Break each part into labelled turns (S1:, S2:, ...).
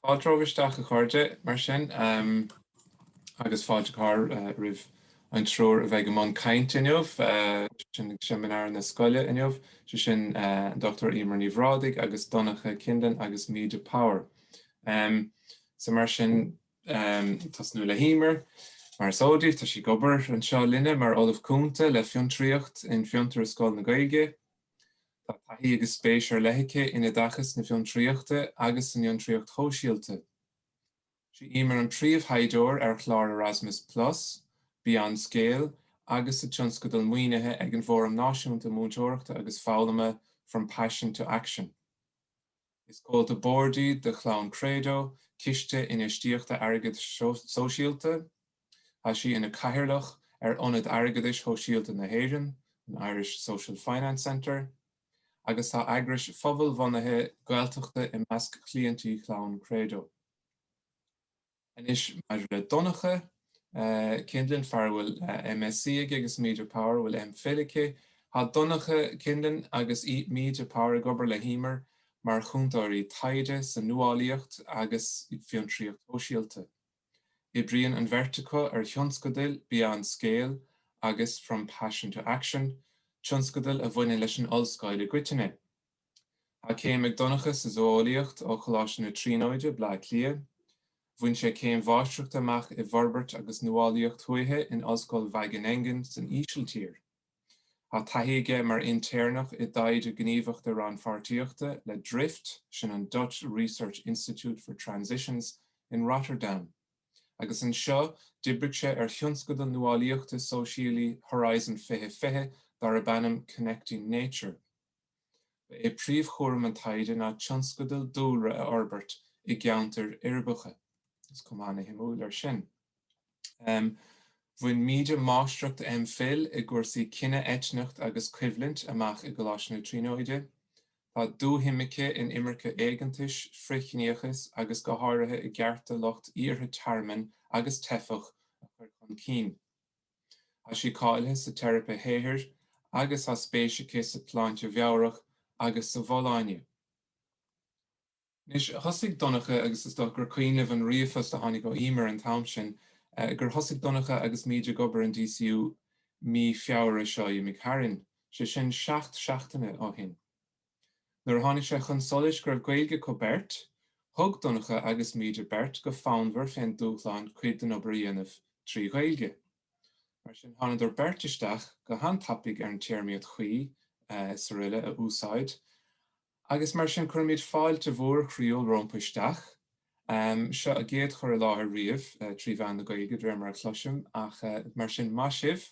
S1: Fáilte romhaibh isteach a chairde, mar sin, agus fáilte go háirithe roimh an triúr a bheidh i mbun cainte inniu, sin ag seimineár na Scoile inniu, sé sin an Dr Emer Ní Bhrádaigh agus Donncha Kindlon agus Míde Power. So mar sin, um tosnú le hEmer. Mar is eol daoibh, tá sí ag obair anseo linne mar Ollamh Cúnta le Fiontraíocht in Fiontar agus Scoil na Gaeilge. Tá taithí agus spéis ar leith aici in Oideachas na Fiontraíochta agus san Fhiontraíocht Shóisialta. Is í Emer an príomhthaighdeoir ar chlár Erasmus plus, Beyond Scale agus sa tionscadal maoinithe ag an bhFóram Náisiúnta Múinteoireachta agus Foghlama From Passion to Action. Is comhalta boird í de Chlann Credo, ciste infheistíochta airgeadais shóisialta. Tá sí ina cathaoirleach ar Ionad Airgeadais Shóisialta na hÉireann, an Irish Social Finance Centre, agus tá eagrais phobalbhunaithe Ghaeltachta i measc chliaintí Chlann Credo. Anois maidir le Donncha Kindlon, fear a bhfuil MSc aige agus Míde Power a bhfuil M. Phil aici. Tá Donncha Kindlon agus Míde Power ag obair le hEmer mar chúntóirí taighde sa nuálaíocht agus fiontraíocht shóisialta. Oibríonn an bheirt acu ar thionscadail Beyond Scale agus From Passion to Action, tionscadail a bhaineann leis an Ollscoil i gcoitinne. Tá céim ag Donncha sa Zó-eolaíocht ó Choláiste na Tríonóide, Bleá Cliath. Bhain sé céim mháistreachta amach i bhForbairt agus Nuálaíocht Thuaithe in Ollscoil Wageningen san Ísiltír. Tá taithí aige mar intéirneach i dtaighde gníomhachta rannpháirtíochta le Drift, sin an Dutch Research Institute for Transitions, in Rotterdam, agus anseo d'oibrigh sé ar thionscadal nuálaíochta sóisialaí Horizon 2020 darb ainm Connecting Nature. Ba é príomhchúram an taighde ná tionscadail dúlra a fhorbairt i gceantair uirbeacha. Is cuma ana-shuimiúil air sin. Bhain Míde Máistreacht M. Phil i gcúrsaí Cine, Eitneacht agus Coimhlint amach i gColáiste na Tríonóide. Tá dúshuim aici in imirce éigeantais, frithchiníochas agus go háirithe i gcearta lucht iarrtha tearmainn agus teifeach a chur chun cinn. Tá sí cáilithe sa teiripe shaothair agus tá spéis aici sa tsláinte mheabhrach agus sa bhfolláine. Anois, thosaigh Donncha agus is dócha gur cuimhin libh an ríomhphost a tháinig ó Emer an t-am sin gur thosaigh Donncha agus Míde ag obair in DCU mí Feabhra seo a imigh tharainn, sé sin seacht seachtaine ó shin. Nuair a tháinig sé chun solais go raibh Gaeilge acu beirt, thug Donncha agus Míde beirt go fonnmhar fén dúshlán cuid den obair a dhéanamh trí Ghaeilge. Mar sin, thánadar beirt isteach go han-tapaidh ar an téarmaíocht chuí is aroile a úsáid agus mar sin cuirimid fáilte mhór chroíúil rompu isteach. Seo a gcéad chur i láthair riamh trí mheán na Gaeilge de réir mar a chloisim ach mar sin maith sibh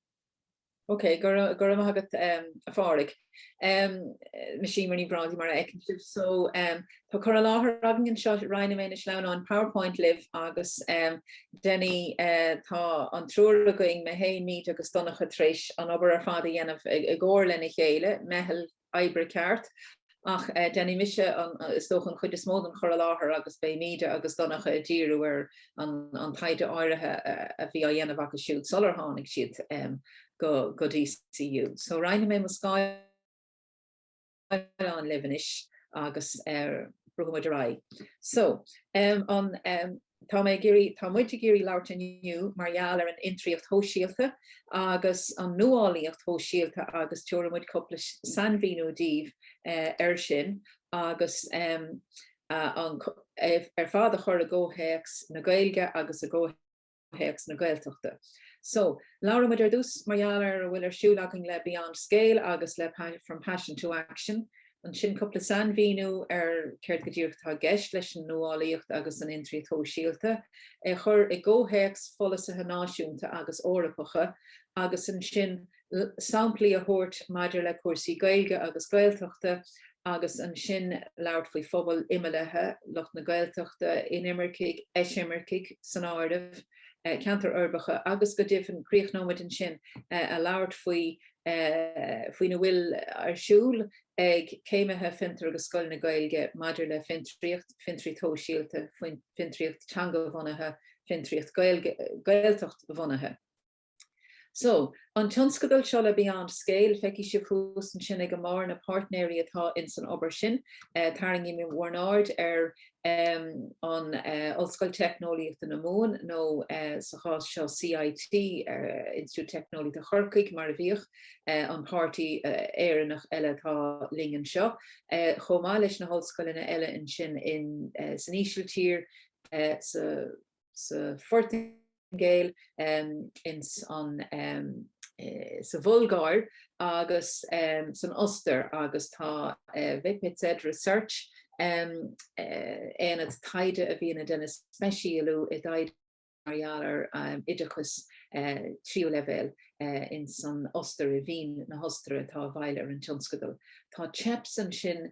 S2: Ok, go raibh go raibh maith agat a Phádraig. Mise Emer Ní Bhrádaigh mar a fheiceann sibh. So tá cur i láthair againn anseo, roinnfidh mé na sleamhnáin powerpoint libh agus déanfaidh tá an triúr againn, mé féin, Míde agus Donncha tar éis an obair ar fad a dhéanamh i gcomhar lena chéile, meitheal oibre ceart. Ach déanfaidh mise, is dócha, an chuid is mó den chur i láthair agus beidh Míde agus Donncha ag díriú ar an taighde áirithe a bhí á dhéanamh acu siúd sular tháinig siad go DCU. So roinnfidh mé mo scáileán libh anois agus brúfaidh muid ar aghaidh. So, an. Tá mé ag iarraidh, tá muid ag iarraidh labhairt inniu mar gheall ar an fhiontraíocht shóisialta agus an nuálaíocht shóisialta agus tabharfaidh muid cúpla sainmhíniú daoibh air sin agus ar fad a chur i gcomhthéacs na Gaeilge agus i gcomhthéacs na Gaeltachta. So, labhróidh muid ar dtús mar gheall ar a bhfuil ar siúl againn le Beyond Scale agus le From Passion to Action. Ansin cúpla sainmhíniú ar céard go díreach atá i gceist leis an nuálaíocht agus an fhiontraíocht shóisialta, é a chur i gcomhthéacs pholasaithe náisiúnta agus Eorpacha, agus ansin samplaí a thabhairt maidir le cúrsaí Gaeilge agus Gaeltachta agus ansin labhairt faoi phobail imeallaithe, lucht na Gaeltachta, inimircigh, eisimircigh san áireamh, ceantair uirbeacha agus go deimhin críochnóimid ansin ag labhairt faoi faoina bhfuil ar siúl ag céimithe Fiontar agus Scoil na Gaeilge maidir le fiontraíocht, fiontraíocht shóisialta, fiontraíocht teanga-bhunaithe, fiontraíocht Gaeltacht-bhunaithe. So, an tionscadal seo le Beyond Scale, feicfidh sibh thuas ansin ag an mbarr na páirtnéirí atá ins an obair sin, tarraingímid bhur n-aird ar an Ollscoil Teicneolaíochta na Mumhan nó sa chás seo CIT, Institiúid Teicneolaíochta Chorcaigh mar a bhíodh, an páirtí Éireannach eile atá linn anseo, chomh maith leis na hollscoileanna eile ansin insan Ísiltír, sa. sa Phortaingéil, ins an sa Bhulgáir agus san Ostair agus tá VPZ Research, aonad taighde a bhíonn ag déanamh speisialú i dtaighde mar gheall ar oideachas tríú leibhéal ins an Ostair, i Vín na hOstaire atá i bhfeighil ar an tionscadal. Tá Cheps ansin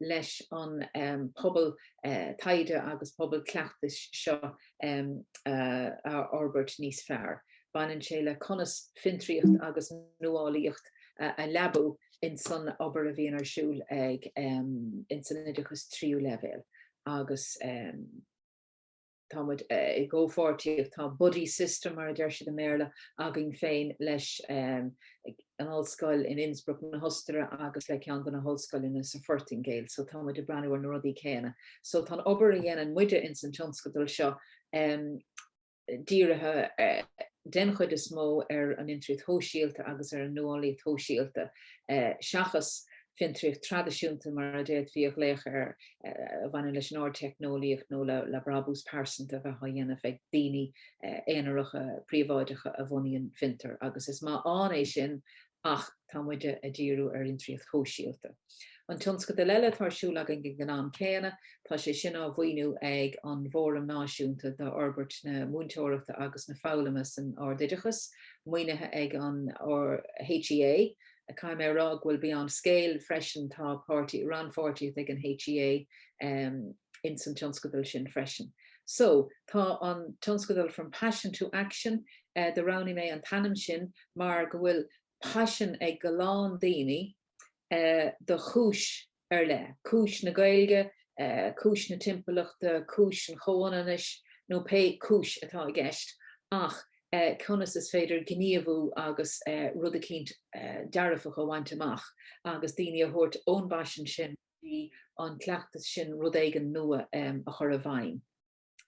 S2: leis an bpobal taighde agus pobal cleachtais seo a fhorbairt níos fearr. Baineann sé le conas fiontraíocht agus nuálaíocht a leabú in san obair a bhíonn ar siúl ag in san oideachas tríú leibhéal agus. tá muid i gcomhpháirtíocht, tá buddy system mar a deir siad i mBéarla, againn féin leis an ollscoil in Innsbruck na hOstaire agus le ceann de na hollscoileanna sa Phortaingéil, so tá muid ag breathnú ar na rudaí céanna. So tá an obair a dhéanann muide ins an tionscadal seo dírithe den chuid is mó ar an fhiontraíocht shóisialta agus ar an nuálaíocht shóisialta seachas fiontraíocht traidisiúnta mar a d'fhéadfaí a ghlaoch air a bhaineann leis an ardteicneolaíocht nó le brabús pearsanta a bheith á dhéanamh ag daoine aonaracha príobháideacha a bhunaíonn fiontair agus is maith ann é sin ach tá muide ag díriú ar fhiontraíocht shóisialta. An tionscadal eile atá ar siúl againn ag an am céanna, tá sé sin á mhaoiniú ag an bhFóram Náisiúnta d'Fhorbairt na Múinteoireachta agus na Foghlama san Ardoideachas, maoinithe ag an HEA, Caithfidh mé a rá go bhfuil beyond scale freisin, tá páirtí, rannpháirtíocht ag an HEA in san tionscadal sin freisin. So, tá an tionscadal From Passion to Action, do roghnaigh mé an t-ainm sin mar go bhfuil paisean ag a lán daoine do chúis ar leith, cúis na Gaeilge, cúis na timpeallachta, cúis an chomhionannais nó pé cúis atá i gceist, ach conas is féidir gníomhú agus rud eicínt dearfach a bhaint amach agus daoine a thabhairt ón bpaisean sin go dtí an cleachtas sin, rud éigin nua a chur i bhfeidhm.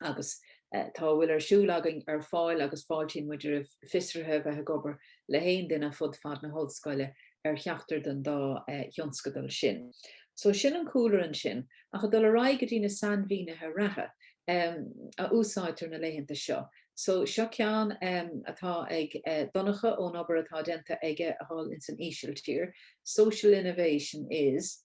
S2: agus tá a bhfuil ar siúl againn ar fáil agus fáiltíonn muid roimh fiosruithe a bheith ag obair le haon duine fud fad na hOllscoile ar cheachtar den dá thionscadal sin. So sin an cúlra ansin, ach ag dul ar aghaidh go dtí na sainmhínithe reatha a úsáidtear na laethanta seo. So seo ceann atá ag Donncha ón obair atá déanta aige thall insan Ísiltír, Social innovation is.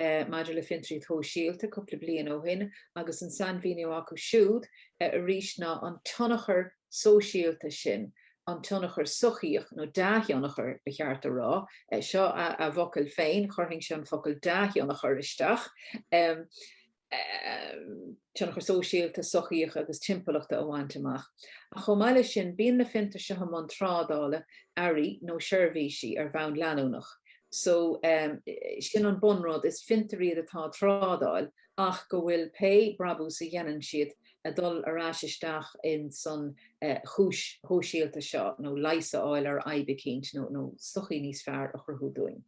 S2: maidir le fiontraíocht shóisialta cúpla bliain ó shin agus an sainmhíniú acu siúd arís ná an tionchar sóisialta sin, an tionchar sochaíoch, nó dea-thionchar ba cheart a rá, seo a bhfocail féin, chuirfinnse an focal dea-thionchar isteach. tionchar sóisialta, sochaíoch agus timpeallachta a bhaint amach. Ach chomh maith leis sin, bíonn na fiontair seo i mbun trádála earraí nó seirbhísí ar bhonn leanúnach so sin an bunrud, is fiontair iad atá ag trádáil ach go bhfuil pé brabús a dhéanann siad ag dul ar ais isteach ins an chúis shóisialta seo nó leigheas a fháil ar fhadhb eicínt nó sochaí níos fearr a chruthú dúinn.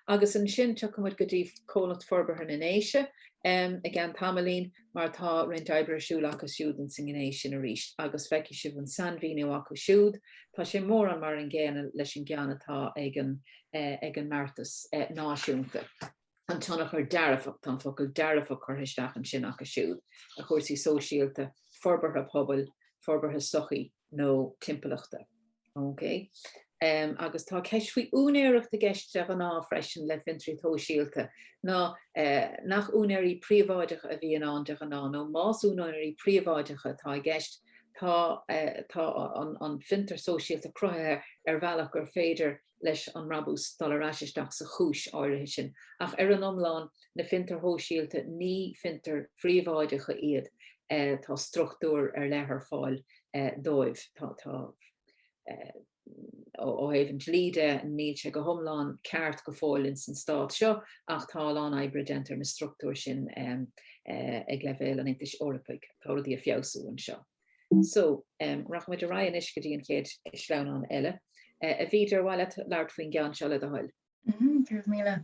S2: agus ansin tiocfaidh muid go dtí Comhlacht Forbartha na nDéise i gceann tamaillín mar tá roinnt oibre ar siúl acu siúd ins an ngné sin arís agus feicfidh sibh an sainmhíniú acu siúd. Tá sé mórán mar an gcéanna leis an gceann atá ag an ag an mbeartas náisiúnta. an tionchar dearfach, tá an focal dearfach curtha isteach ansin acu siúd, ar chúrsaí sóisialta, forbartha pobail, forbartha sochaí. nó timpeallachta. Okay. Um, agus tá ceist faoi úinéireacht i gceist de ghnáth freisin le fiontair shóisialta, ná uh, nach úinéirí príobháideacha a bhíonn ann de ghnáth, nó más úinéirí príobháideacha atá i gceist, tá, uh, tá an, an fiontar sóisialta cruthaithe ar bhealach gur féidir leis an mbrabús dul ar ais isteach sa chúis áirithe sin, ach ar an iomlán, na fiontair shóisialta, ní fiontair phríobháideacha iad, tá struchtúr ar leith ar fáil dóibh, tá, ó thaobh an dlí de, níl sé go hiomlán ceart go fóill ins an Stát seo ach tá a lán oibre déanta ar na struchtúir sin ag leibhéal an Aontais Eorpaigh, tá rudaí ag feabhsú anseo. So, rachaidh muid ar aghaidh anois go dtí an chéad sleamhnán eile. A Bhríd, ar mhaith leat labhairt faoin gceann seo le do thoil? Go raibh míle.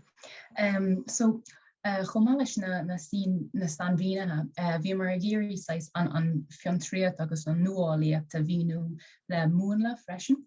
S3: So, chomh maith leis na, na stíl, na sainmhínithe, bhíomar ag iarraidh saghas an, an fiontraíocht agus an nuálaíocht a mhíniú le múnla freisin.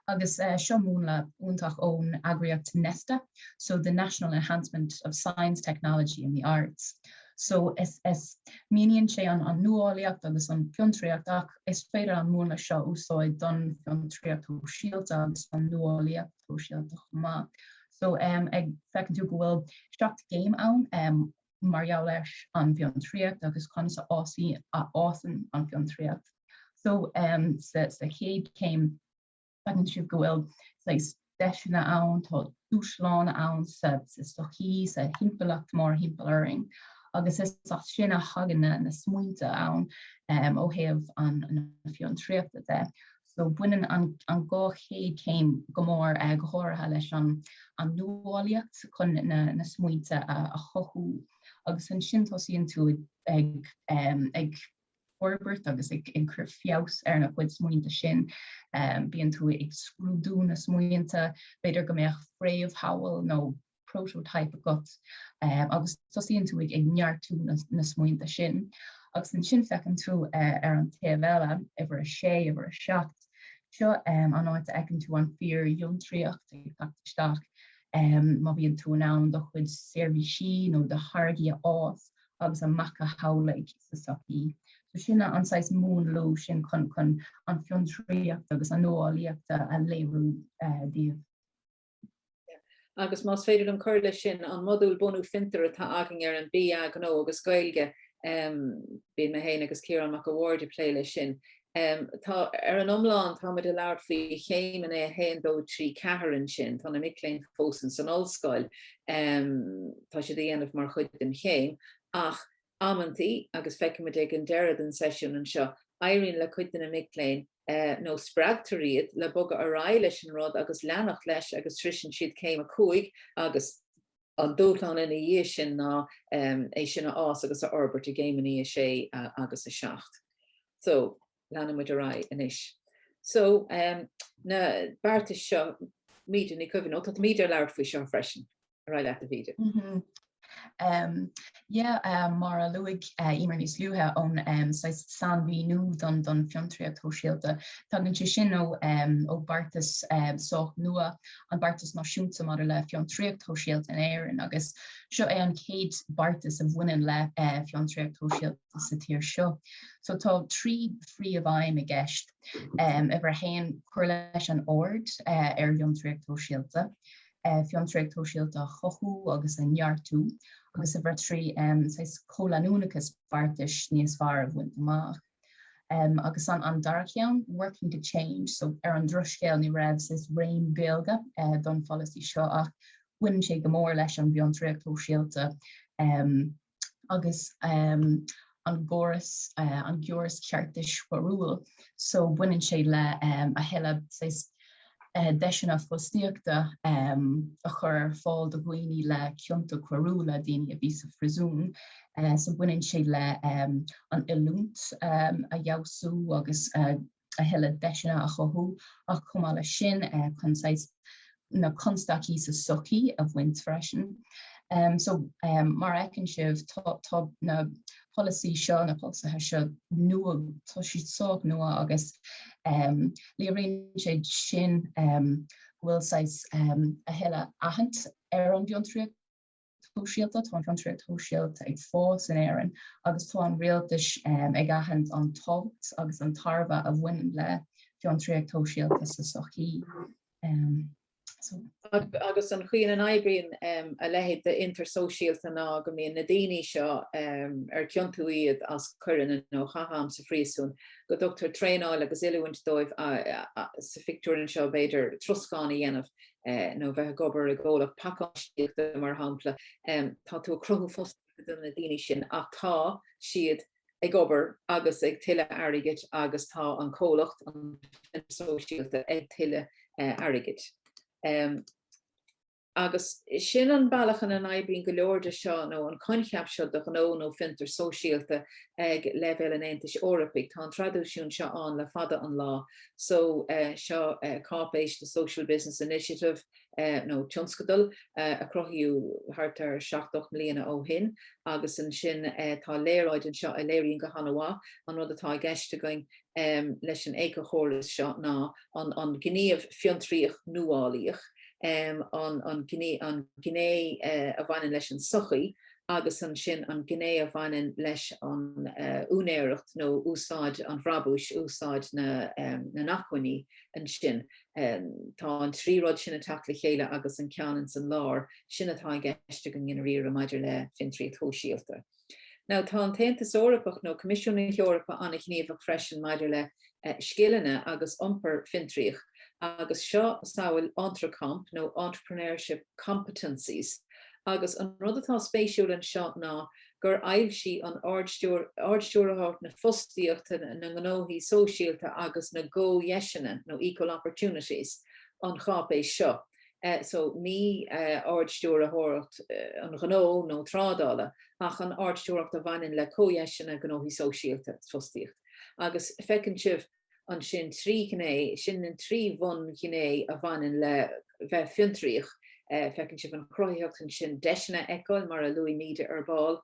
S3: Agus seo múnla iontach ón eagraíocht Nesta, so the National Enhancement of Science, Technology and the Arts. So, is, is, míníonn sé an, an nuálaíocht agus an fiontraíocht ach is féidir an múnla seo a úsáid don fiontraíocht shóisialta agus don nuálaíocht shóisialta chomh maith. So, um, ag, feiceann tú go bhfuil seacht gcéim ann um, mar gheall leis an bhfiontraíocht agus conas a fhásann, a fhásann an fiontraíocht. So, um, sa, sa chéad céim, Feiceann sibh go bhfuil deiseanna ann, tá dúshláin ann sa tsochaí, sa timpeallacht mórthimpeall orainn agus is as sin a thagann na smaointe ann ó thaobh na fiontraíochta de. So baineann an dhá chéad céim go mór go háirithe leis an nuálaíocht chun na smaointe a chothú agus ansin tosaíonn tú ag forbairt agus ag cur feabhas ar na cuid smaointe sin. Bíonn tú ag scrúdú na smaointe, b'fhéidir go mbeadh fréamhshamhail nó prototype agat agus tosaíonn tú ag neartú na smaointe sin. Agus ansin feiceann tú ar an taobh eile, uimhir a sé, uimhir a seacht, seo an áit a fheiceann tú an fíorfhiontraíocht ag teacht isteach. Má bhíonn tú in ann do chuid seirbhísí nó do tháirgí a fhás, agus a mhacasamhlú sa tsochaí. So sin an saghas múnlú sin chun chun an fiontraíocht agus an nuálaíocht a a léiriú eh, daoibh.
S2: Agus más féidir liom cur leis sin, an modúl bunú fiontar atá againn ar an BA Gnó agus Gaeilge, em, bíonn mé féin agus Ciarán Mac an Bhaird ag plé leis sin, Tá, ar an iomlán, tá muid ag labhairt faoi chéim an a haon, dó, trí, ceathair ansin, tá na mic léinn fós in san ollscoil, tá siad á dhéanamh mar chuid den chéim ach amantaí, agus feicfidh muid ag an deireadh den seisiún anseo, éiríonn le cuid de na mic léinn nó spreagtar iad le bogadh ar aghaidh leis an rud agus leanacht leis agus sroiseann siad céim a cúig agus. An dúshlán ina dhiaidh sin ná é sin a fhás agus a fhorbairt i gcéimeanna 6 agus 7. So, leanann muid ar aghaidh anois. So, na beartais seo, Míde, ní cuimhin, ó tá Míde ag labhairt faoi seo freisin. Ar aghaidh leat, a Mhíde.
S3: Yeah, mar a luaigh Emer níos luaithe, ón saghas sainmhíniú don don fiontraíocht shóisialta. Tagann sé sin ó ó beartas sách nua, an beartas náisiúnta maidir le fiontraíocht shóisialta in Éirinn agus seo é an chéad beartas a bhaineann le fiontraíocht shóisialta sa tír seo. So tá trí phríomhaidhm i gceist. Uimhir a haon, cur leis an aird ar fhiontraíocht shóisialta. fiontraíocht shóisialta a chothú agus a neartú agus a trí chomhleanúnachas beartais níos fearr a bhaint amach. Agus an dara ceann, Working to Change, so ar an drochuair ní raibh ainm Gaeilge don pholasaí seo ach baineann sé go mór leis an bhfiontraíocht shóisialta. agus um, an gcóras, uh, an gcóras ceartais choiriúil. So baineann sé le um, a thuilleadh saghas, uh, deiseanna fostaíochta um, a chur ar fáil do dhaoine le cionta coiriúla, daoine a bhí sa phríosún. Uh, so baineann sé le um, an oiliúint um, a fheabhsú agus uh, a thuilleadh deiseanna a chothú ach chomh maith leis sin chun saghas na constaicí sa tsochaí a bhaint freisin. So, mar a fheiceann sibh, tá na polasaí seo, na polasaithe seo nua, tá siad sách nua agus léiríonn sé sin go bhfuil saghas a thuilleadh aithint ar an bhfiontraíocht. shóisialta, tá an fiontraíocht shóisialta ag fás in Éirinn agus tá an rialtas ag aithint an tábhacht agus an tairbhe a bhaineann le fiontraíocht shóisialta sa
S2: sochaí. Agus an chaoi ina n-oibríonn a leithéid d'fhiontar sóisialta ná go mbíonn na daoine seo ar ciontú iad as coireanna nó chaith am sa phríosún, go dtugtar traenáil agus oiliúint dóibh sa phictiúr anseo, b'fhéidir, troscán a dhéanamh nó bheith ag obair i gcomhlacht pacáistíochta mar shampla, tá tú ag cruthú fostaíochta do na daoine sin ach tá siad ag obair agus ag tuilleadh airgid agus tá an comhlacht, an fiontar sóisialta, ag tuilleadh airgid. Agus sin an bealach ina n-oibríonn go leor de seo nó an coincheap seo de ghnó nó fiontar sóisialta ag leibhéal an Aontais Eorpaigh. Tá an traidisiún seo ann le fada an lá. so seo cáipéis The Social Business Initiative nó tionscadal a cruthaíodh thart ar seacht ocht mbliana ó shin agus ansin tá léaráid anseo a léiríonn go han-mhaith an rud atá i gceist againn leis an éiceachóras seo ná an gníomh fiontraíoch nuálaíoch, an gné a bhaineann leis an sochaí. agus ansin an gné a bhaineann leis an úinéireacht nó úsáid an bhrabúis, úsáid na n-acmhainní ansin. Tá an trí rud sin ag teacht le chéile agus an ceann ins an lár, sin atá i gceist againn i ndáiríre maidir le fiontraíocht shóisialta. Now tá an tAontas Eorpach nó Coimisiún na hEorpa an-ghníomhach freisin maidir le scileanna agus iompar fiontraíoch agus seo samhail EntreComp nó Entrepreneurship Competencies agus an rud atá spéisiúil anseo ná gur fhoilsigh an Ard-Stiúrthóireacht na Fostaíochta, na nGnóthaí Sóisialta agus na gComhdheiseanna nó Equal Opportunities an cháipéis seo so ní Ard-Stiúrthóireacht an Ghnó nó Trádála ach an Ard-Stiúrthóireacht a bhaineann le Comhdheiseanna, Gnóthaí Sóisialta, Fostaíocht. agus feiceann sibh ansin trí gné, sin na trí bhunghné a bhaineann le bheith fiontraíoch, feiceann sibh an cruthaitheacht ansin, deiseanna a fheiceáil, mar a luaigh Míde ar ball,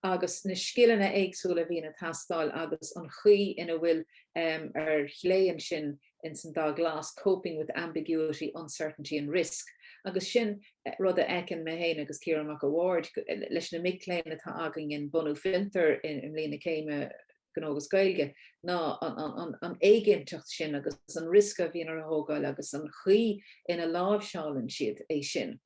S2: agus na scileanna éagsúla a bhíonn ag teastáil agus an chaoi ina bhfuil, ar chlé ansin, ins an dath glas, coping with ambiguity, uncertainty and risk, agus sin rud a fheiceann mé féin agus Ciarán Mac a' Bhaird leis na mic léinn atá againn in Bunú Fiontar i mbliain na céime Gnó agus Gaeilge, ná an éiginnteacht sin agus an riosca a bhíonn orthu a thógáil agus an chaoi ina láimhseálann siad é sin.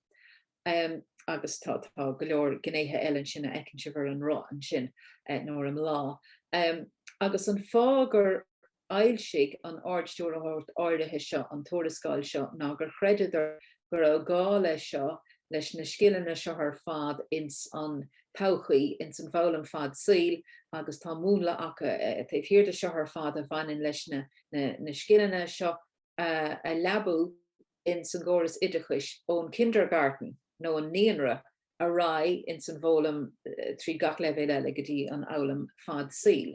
S2: Agus tá go leor gnéithe eile ansin a fheiceann sibh ar an roth ansin, nó ar an mbláth. Agus an fáth gur d'fhoilsigh an Ard-Stiúrthóireacht áirithe seo an tuarascáil seo ná gur chreideadar go raibh gá leis seo leis na scileanna seo ar fad ins an todhchaí, ins an bhfoghlaim fad saoil, agus tá múnla acu taobh thiar de seo ar fad a bhaineann leis na scileanna seo a leabú ins an gcóras oideachais ón Kindergarten nó an naíonra ar aghaidh ins an bhfoghlaim trí gach leibhéal eile go dtí an fhoghlaim fad saoil.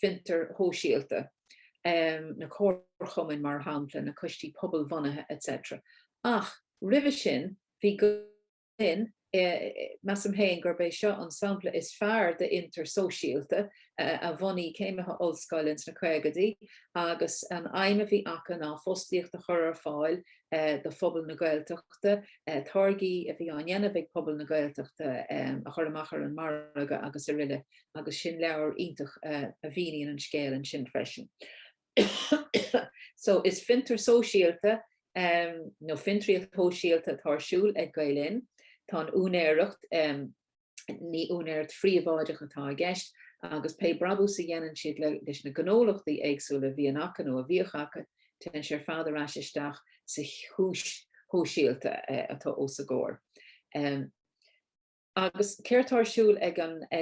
S2: fiontair shóisialta, na comharchumainn, mar shampla, na coistí pobalbhunaithe etc. Ach roimhe sin, bhí go leor eile. Measaim féin gurb é seo an sampla is fearr d'fhiontar sóisialta a bhunaigh céimithe ollscoile ins na caogaidí agus an aidhm a bhí acu ná fostaíocht a chur ar fáil do phobal na Gaeltachta, táirgí a bhí á ndéanamh ag pobal na Gaeltachta a chur amach ar an margadh agus aroile. agus sin leabhar iontach a mhíníonn an scéal ansin freisin. so is fiontar sóisialta um, nó fiontraíocht shóisialta atá ar siúl ag Gael Linn. Tá an úinéireacht um, ní úinéireacht phríobháideach atá i gceist agus pé brabús a dhéanann siad le, leis na gnólachtaí éagsúla a bhíonn acu nó a bhíodh acu, téann sé ar fad ar ais isteach sa chúis shóisialta uh, atá os a gcomhair. Um, Agus céard tá ar siúl ag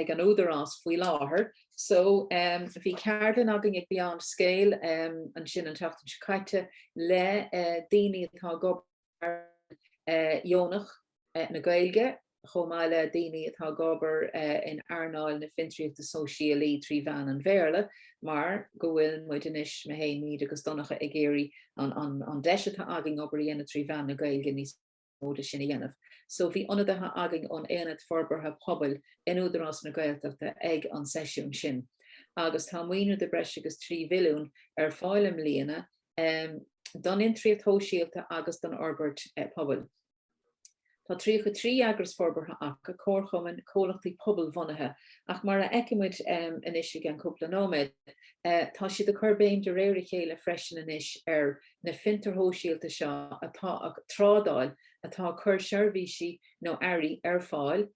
S2: an Údarás faoi láthair? So, bhí ceardlann againn ag Beyond Scale ansin an tseachtain seo caite le daoine atá ag obair ar earnáil dheonach na Gaeilge chomh maith le daoine atá ag obair in earnáil na fiontraíochta sóisialaí trí mheán an Bhéarla mar go bhfuil muid anois, mé fhéin, Míde agus Donncha, ag iarraidh an deis atá againn obair a dhéanamh trí mheán na Gaeilge níos móide sin a dhéanamh so bhí ionadaithe againn ón Aonad Forbartha Pobail in Údarás na Gaeltachta ag an seisiún sin agus tá maoiniú de bhreis agus 3 mhilliún ar fáil i mbliana don fhiontraíocht shóisialta agus don fhorbairt pobail. Tá 33 eagras forbartha acu, comharchumainn, comhlachtaí pobalbhunaithe, ach mar a fheicfidh muid anois i gceann cúpla nóiméad, tá siad ag cur béim de réir a chéile freisin anois ar na fiontair shóisialta seo atá ag trádáil, atá ag cur seirbhísí nó earraí ar fáil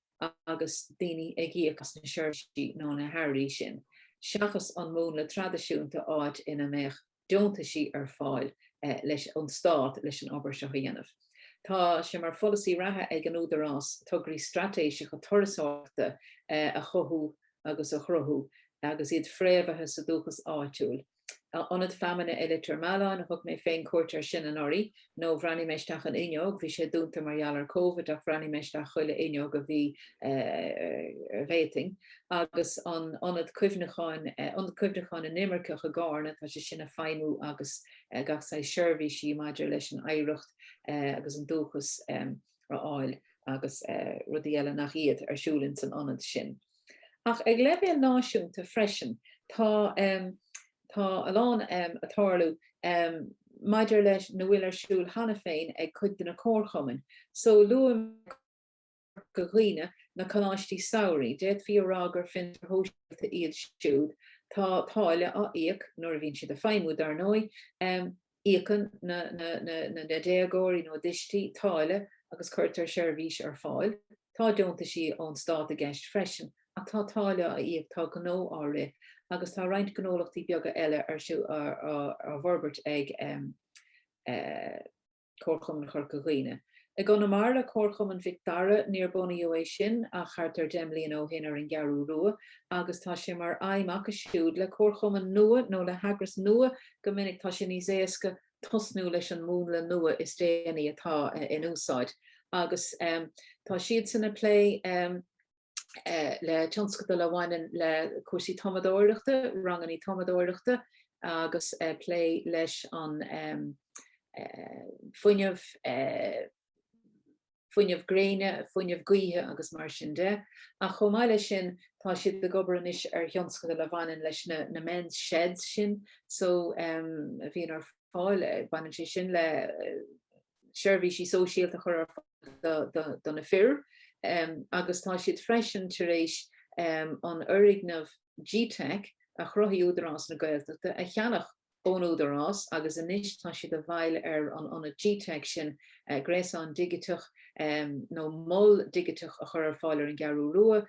S2: agus daoine ag íoc as na seirbhísí nó na hearraí sin, seachas an múnla traidisiúnta áit ina mbeadh deontaisí ar fáil leis ón Stát leis an obair seo a dhéanamh. Tá sé mar pholasaí reatha ag an Údarás tograí straitéiseacha turasóireachta a chothú agus a chruthú agus iad fréamhaithe sa dúchas áitiúil. Ionad Feamainne i Leitir Mealláin, thug mé féin cuairt air sin anuraidh, nó bhreathnaigh mé isteach an fhuinneog, bhí sé dúnta mar gheall ar Covid ach bhreathnaigh mé isteach chuile fhuinneog a bhí, a d'fhéadfainn, agus an t-ionad cuimhneacháin, Ionad Cuimhneacháin na nImirceach i gCárna, tá sé sin ag feidhmiú agus gach saghas seirbhísí maidir leis an oidhreacht agus an dúchas a a fháil agus rudaí eile nach iad ar siúl ins an ionad sin. Ach ag leibhéal náisiúnta freisin tá tá a lán a tarlú maidir leis na bhfuil ar siúl cheana féin ag cuid de na comharchumainn. So luaigh mé Corca Dhuibhne na coláistí samhraidh, d'fhéadfaí a rá gur fiontair shóisialta iad siúd, tá táille á íoc nuair a bhíonn siad ag feidhmiú dar ndóigh, Íocann na déagóirí nó a dtuistí táille agus cuirtear seirbhís ar fáil. Tá deontaisí ón stát i gceist freisin ach tá táille á íoc, tá gnó á rith agus tá roinnt gnólachtaí beaga eile ar siúl á bhforbairt ag Comharchumann Chorca Dhuibhne. I gConamara le Comharchumann Mhic Dara, níor bunaíodh é sin ach thart ar deich mbliana ó shin ar an gCeathrú Rua agus tá sé mar aidhm acu siúd le comharchumann nua nó le heagras nua go minic tá sé níos éasca tosnú leis an múnla nua is déanaí atá in úsáid agus tá siadsan ag plé le tionscadail a bhaineann le cúrsaí tumadóireachta, rangannaí tumadóireachta agus ag plé leis an fuinneamh fuinneamh gréine, fuinneamh gaoithe agus mar sin de, ach chomh maith leis sin tá siad ag obair anois ar thionscadal a bhaineann leis na men's sheds sin so a bhíonn ar fáil, baineann sé sin le seirbhísí sóisialta a chur ar fáil do na fir agus tá siad freisin tar éis an foirgneamh G-teic a chruthaigh Údarás na Gaeltachta a cheannach. ón Údarás agus anois tá siad i bhfeighil ar an ionad GTeic sin, gréasán digiteach nó mol digiteach a chur ar fáil ar an gCeathrú Rua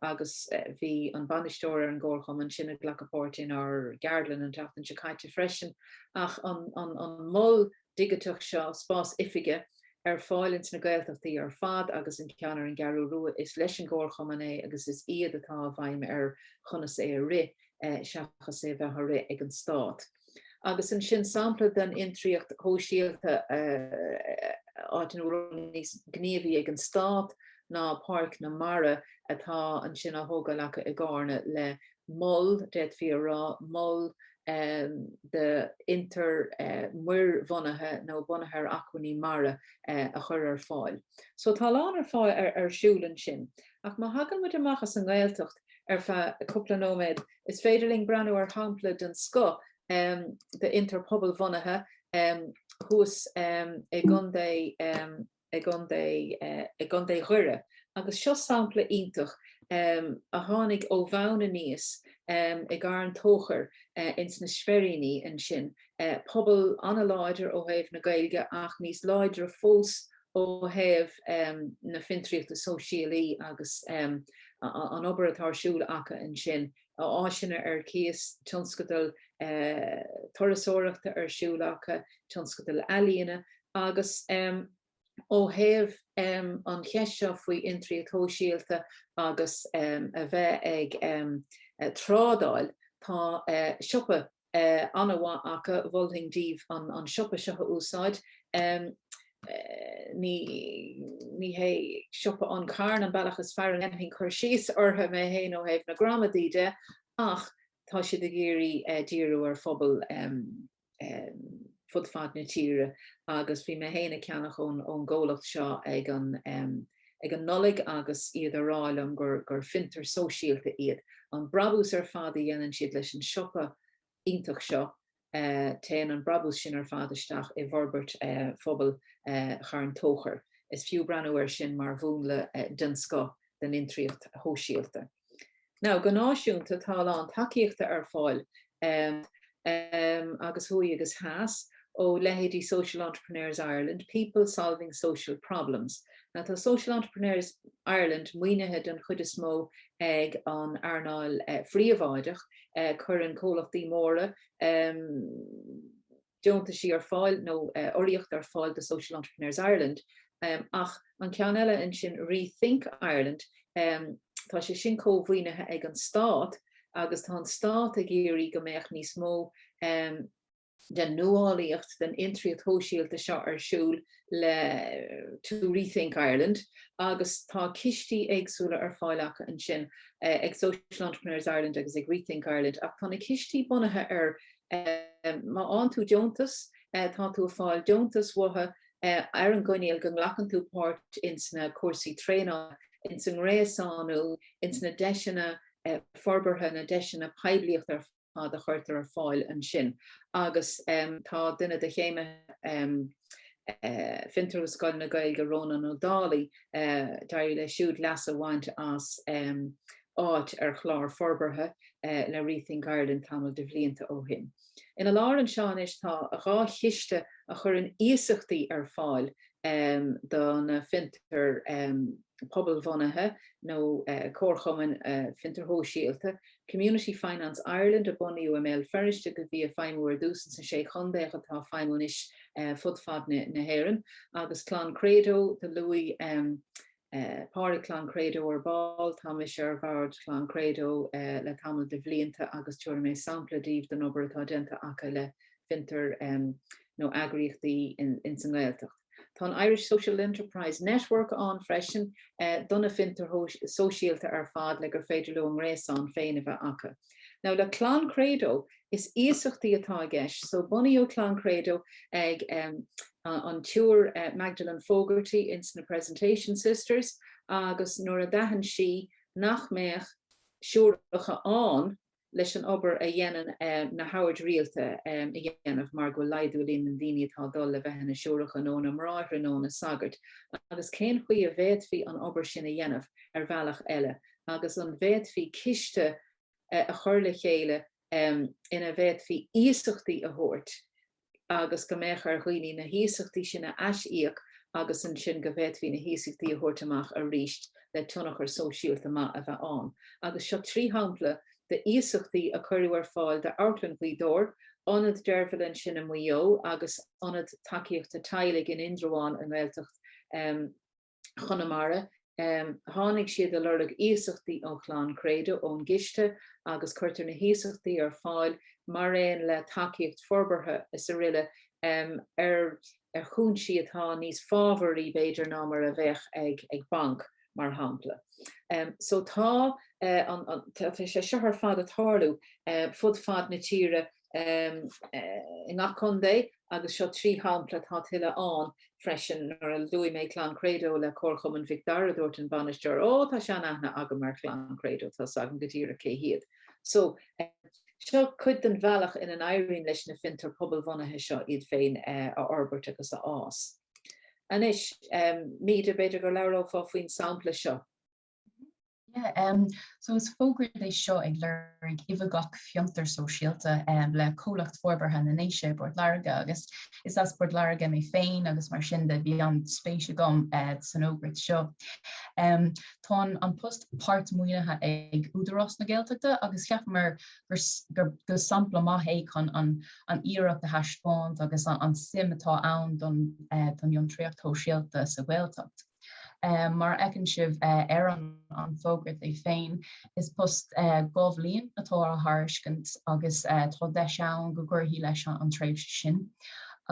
S2: agus bhí an bainisteoir ar an gcomharchumann sin ag glacadh páirte inár gceardlann an tseachtain seo caite freisin ach an mol digiteach seo, spás oifige, ar fáil ins na Gaeltachtaí ar fad agus an ceann ar an gCeathrú Rua is leis an gComharchumann é agus is iad atá i bhfeighil ar chonas é a rith seachas é bheith á rith ag an Stát. Agus ansin sampla den fhiontraíocht shóisialta áit ina bhfuil ról níos gníomhaí ag an Stát ná Páirc na Mara atá ansin á thógáil acu i gCárna le mol, d'fhéadfaí a rá, mol d'fhiontair muir-bhunaithe nó bunaithe ar acmhainní mara a chur ar fáil. So tá a lán ar fáil ar siúl ansin. Ach má thagann muid amach as an nGaeltacht ar feadh cúpla nóiméad, is féidir linn breathnú ar shampla den scoth d'fhiontar pobalbhunaithe thuas i gContae. i gContae Dhoire agus seo sampla iontach a tháinig ó bhonn aníos i gCarn Tóchair ins na Speiríní ansin, pobal an-láidir ó thaobh na Gaeilge ach níos láidre fós ó thaobh na fiontraíochta sóisialta agus an obair atá ar siúl acu ansin, áiseanna ar cíos, tionscadal turasóireachta ar siúl acu, tionscadal ealaíona Agus ó thaobh an cheist seo faoi fhiontraíocht shóisialta agus a bheith ag trádáil, tá siopa an-mhaith acu, mholfainn daoibh an siopa seo a úsáid, ní hé siopa An Carn an bealach is fearr a ndéanfainn cur síos orthu mé héin ó thaobh na gramadaí de ach tá siad ag iarraidh díriú ar phobal fud fad na tíre agus bhí mé héin ag ceannach ón gcomhlacht seo ag an ag an Nollaig agus iad ag rá liom gur fiontar sóisialta iad. An brabús ar fad a dhéanann siad leis an siopa iontach seo, téann an brabús sin ar fad isteach i bhforbairt phobal Charn Tóchair. Is fiú breathnú air sin mar mhúnla den scoth den fhiontraíocht shóisialta. Now, go náisiúnta, tá a lán tacaíochta ar fáil agus thuaidh agus theas ó leithéidí Social Entrepreneurs Ireland, People Solving Social Problems. Now, tá Social Entrepreneurs Ireland maoinithe den chuid is mó ag an earnáil phríobháideach, cuireann comhlachtaí móra, deontaisí ar fáil nó urraíocht ar fáil do Social Entrepreneurs Ireland ach an ceann eile ansin Rethink Ireland tá sé sin comh-mhaoinithe ag an Stát agus tá an Stát ag iarraidh go mbeadh níos mó den nuálaíocht, den fhiontraíocht shóisialta seo ar siúl le to rethink Ireland agus tá cistí éagsúla ar fáil acu ansin ag Social Entrepreneurs Ireland agus ag Rethink Ireland ach tá na cistí bunaithe ar Má fháann tú deontas, tá tú ag fáil deontais mhaithe ar an gcoinníoll go nglacann tú páirt ins na cúrsaí traenála, ins an ngréasánú, ins na deiseanna forbartha, na deiseanna poiblíochta ar fad a chuirtear ar fáil ansin agus tá duine de chéimithe. Fiontar agus Scoil na Gaeilge Rónán Ó Dálaigh, d'éirigh leis siúd leas a bhaint as áit ar chlár forbartha le Rethink Ireland tamall de bhlianta ó shin. Ina lár anseo anois tá dhá chiste a chuireann iasachtaí ar fáil do na fiontair pobalbhunaithe nó comharchumainn fiontair shóisialta Community Finance Ireland, a bunaíodh i mBéal Feirste agus a bhí ag feidhmiú ar dtús ins na Sé Chontae ach atá ag feidhmiú anois fud fad na hÉireann, agus Clann Credo, do luaigh Pádraig Clann Credo ar ball, tá mise ar bhord Chlann Credo le tamall de bhlianta agus tabharfaidh mé sampla daoibh den obair atá déanta acu le fiontair nó eagraíochtaí ins an nGaeltacht. Tá an Irish Social Enterprise Network ann freisin do na fiontair sóisialta ar fad le gur féidir leo a ngréasán féin a bheith acu. Now le Clann Credo is iasachtaí atá i gceist so bunaíodh Clann Credo ag an tSiúr Magdalen Fogarty ins na Presentation Sisters agus nuair a d'aithin sí nach mbeadh siúracha ann leis an obair a dhéanann na hOird Rialta a dhéanamh mar go bhfuil laghdú i líon na ndaoine atá ag dul le bheith ina siúracha nó ina mbráithre nó ina sagairt agus cén chaoi a bhféadfaí an obair sin a dhéanamh ar bhealach eile agus an bhféadfaí ciste a chur le chéile ina bhféadfaí iasachtaí a thabhairt agus go mbeadh ar dhaoine na hiasachtaí sin a aisíoc agus ansin go bhféadfaí na hiasachtaí a thabhairt amach arís le tionchar sóisialta maith a bheith ann. Agus seo trí shampla d'iasachtaí a cuireadh ar fáil d'Amharclann Ghaoth Dobhair, Ionad Deirbhile ansin i Maigh Eo agus Ionad Tacaíochta Teaghlaigh in Indreabhán i nGaeltacht Chonamara, tháinig siad ag lorg iasachtaí ó Chlann Credo ón gciste agus cuirtear na hiasachtaí ar fáil mar aon le tacaíocht forbartha is aroile ar chúinsí atá níos fábharaí b'fhéidir ná mar a bheadh ag banc mar shampla. So tá an, tá sé seo ar fad ag tarlú fud fad na tíre, i ngach contae agus seo trí shampla, tá tuilleadh ann freisin. Nuair a luaigh mé Clann Credo le Comharchumann Mhic Dara, dúirt an bainisteoir, 'Ó, tá seanaithne agam ar Chlann Credo, tá's agam go díreach cé hiad. So, seo cuid den bhealach ina n-éiríonn leis na fiontair pobalbhunaithe seo iad féin a fhorbairt agus a fhás. Anois, Míde, b'fhéidir go labhrófá faoin sampla seo.
S3: Yeah, um, so is fógra é seo ag lorg oifigeach fiontar sóisialta um, le Comhlacht Forbartha na nDéise, Port Láirge, agus is as Port Láirge mé féin agus mar sin de bhí an spéis agam uh, san fhógra seo. Um, tá an, an post páirt maoinithe ag Údarás na Gaeltachta agus cheapamar gur, gur, gur sampla maith é chun an, an iarracht a thaispeáint agus an, an suim atá ann don, uh, don fhiontraíocht shóisialta sa Ghaeltacht. Mar a fheiceann sibh ar an bhfógra é féin, is post dhá bhliain atá á thairiscint agus tá deis ann go gcuirfí leis an tréimhse sin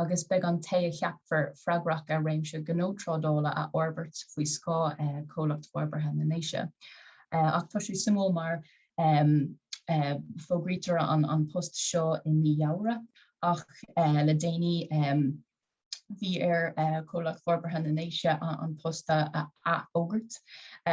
S3: agus beidh an té a cheapfar freagrach as réimse gnó trádála a fhorbairt faoi scáth Chomhlacht Forbartha na nDéise. Ach tá sé suimiúil mar fógraíodh an post seo i mí Feabhra ach le déanaí bhí ar Chomhlacht Forbartha na nDéise an post a athfhógairt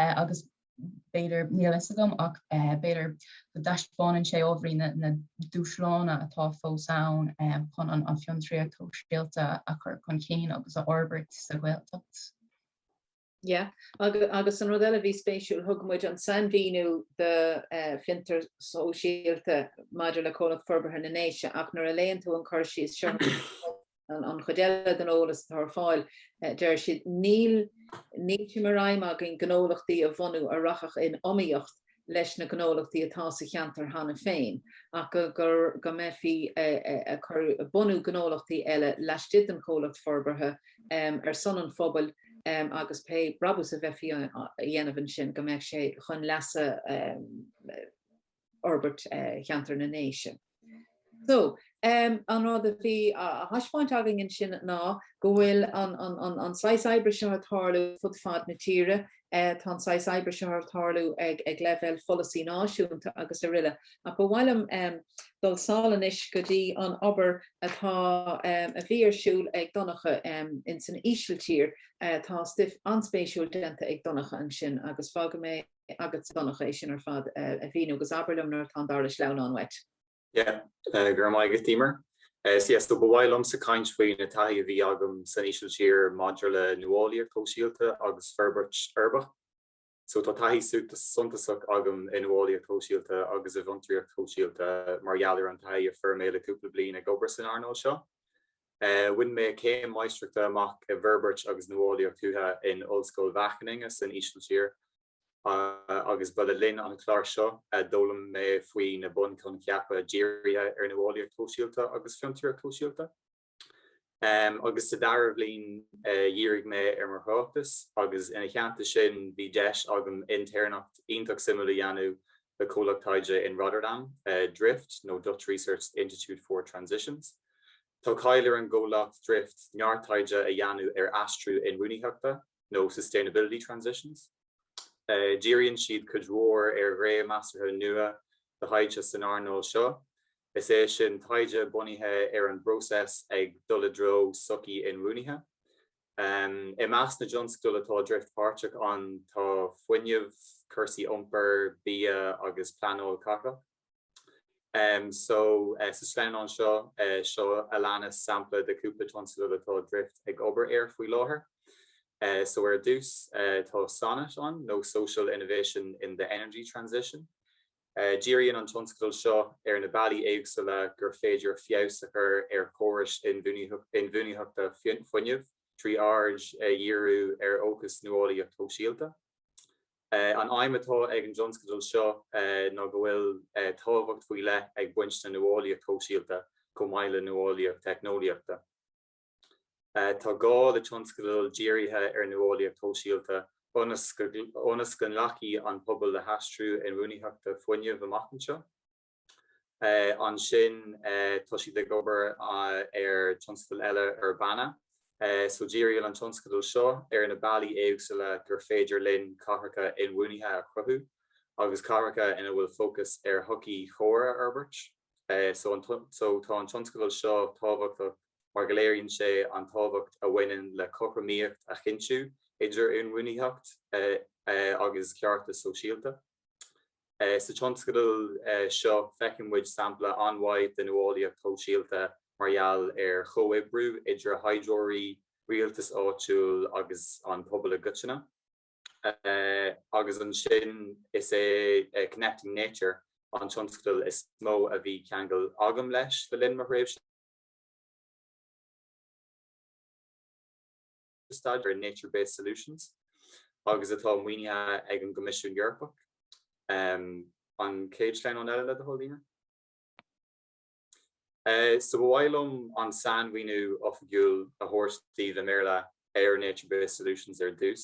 S3: agus b'fhéidir, níl a fhios agam, ach b'fhéidir go dtaispeánann sé ábhairín na dúshláin atá fós ann chun an fhiontraíocht shóisialta a chur chun cinn agus a fhorbairt sa Ghaeltacht.
S2: Yeah. Agus, agus an rud eile a bhí spéisiúil, thug muid an sainmhíniú de eh, fiontar sóisialta maidir le Comhlacht Forbartha na nDéise ach nuair a léann tú an cur síos seo an, an chuid eile den eolas atá ar fáil, eh, deir siad níl, níl sé mar aidhm againn gnólachtaí a bhunú a rachadh in iomaíocht leis na gnólachtaí atá sa cheantar cheana féin ach go mbeifí ag bunú gnólachtaí eile laistigh den Chomhlacht Forbartha ar son an phobail agus pé brabús a bheifí a dhéanamh ansin go mbeadh sé chun leasa fhorbairt cheantar na nDéise. So, an rud a bhí á thaispeáint againne ansin ná go bhfuil an saghas oibre seo ag tarlú fud fad na tíre, tá an saghas oibre seo ag tarlú ag leibhéal pholasaí náisiúnta srl. Ach ba mhaith liom dul sall anois go dtí an obair atá, a bhí ar siúl ag Donncha ins an Ísiltír. Tá stuif an-spéisiúil déanta ag Donncha ansin agus fágfaidh mé, agat Donncha é sin ar fad a mhíniú agus abair liom nuair atá an dara sleamhnán uait.
S4: Yeah. Go raibh maith agat Emer. Yeah, so ba mhaith liomsa caint faoi an taithí a bhí agam san Ísiltír maidir le nuálaíocht shóisialta agus forbairt uirbeach. So tá taithí suntasach agam i nuálaíocht shóisialta agus i bhfiontraíocht shóisialta mar gheall ar an taithí a fuair mé le cúpla bliain ag obair san earnáil seo. Bhain mé céim Máistreachta amach i bhForbairt agus Nuálaíocht Tuaithe in Ollscoil Wageningen san Ísiltír agus ba le linn an chláir seo a d'fhoghlaim mé faoi na bunchoincheapa dírithe ar nuálaíocht shóisialta agus fiontraíocht shóisialta. Agus sa dara bliain dhírigh mé ar mo thráchtas agus ina theannta sin bhí deis agam intéirneacht iontach suimiúil a dhéanamh le comhlacht taighde in Rotterdam, Drift nó Dutch Research Institute for Transitions. Tá cáil ar an gcomhlacht Drift neart taighde a dhéanamh ar aistriú inbhuanaitheachta nó sustainability transitions. Díríonn siad cuid mhór ar ghné measartha nua de thaighde san earnáil seo, is é sin taighde bunaithe ar an bpróiseas ag dul i dtreo sochaí inbhuanaithe. I measc na dtionscadal atá Drift páirteach ann tá fuinneamh, cúrsaí iompair, bia agus pleanáil cathrach. Um, so, uh, sa sleamhnán seo, uh, seo a leanas sampla de cúpla tionscadal atá Drift ag obair air faoi láthair. Uh, so ar dtús, uh, tá Sonnet ann, nó Social Innovation in the Energy Transition. Uh, díríonn an tionscadal seo ar na bealaí éagsúla gur féidir feabhas a chur ar chórais inbhuanaitheachta fuinnimh trí aird a dhíriú ar fhócas nuálaíocht shóisialta. An aidhm atá ag an tionscadal seo ná go bhfuil tábhacht faoi leith ag baint le nuálaíocht shóisialta chomh maith le nuálaíocht theicneolaíochta. Tá gá le tionscadail dírithe ar nuálaíocht shóisialta ionas go nglacfaidh an pobal le haistriú inbhuanaitheachta fuinnimh amach anseo. Ansin tá siad ag obair ar tionscadal eile Urbana. So díríonn an tionscadal seo ar na bealaí éagsúla gur féidir linn cathracha inbhuanaithe a chruthú agus cathracha ina bhfuil fócas ar shochaí chóir a fhorbairt. So tá an tionscadal seo tábhachtach mar go léiríonn sé an tábhacht a bhaineann le cothromaíocht a chinntiú idir inbhuanaitheacht agus ceartas sóisialta. Sa tionscadal seo, feiceann muid sampla an-mhaith de nuálaíocht shóisialta mar gheall ar chomhoibriú idir thaighdeoirí, rialtas áitiúil agus an pobal i gcoitinne. Agus ansin is é Connecting Nature an tionscadal is mó a bhí ceangal agam leis le linn mo thréimhse. staidéir ar nature-based solutions agus atá maoinithe ag an gCoimisiún Eorpach. An chéad sleamhnán eile le do thoil, Daoine? So ba mhaith liom an sainmhíniú oifigiúil a thabhairt daoibh i mBéarla ar nature-based solutions ar dtús.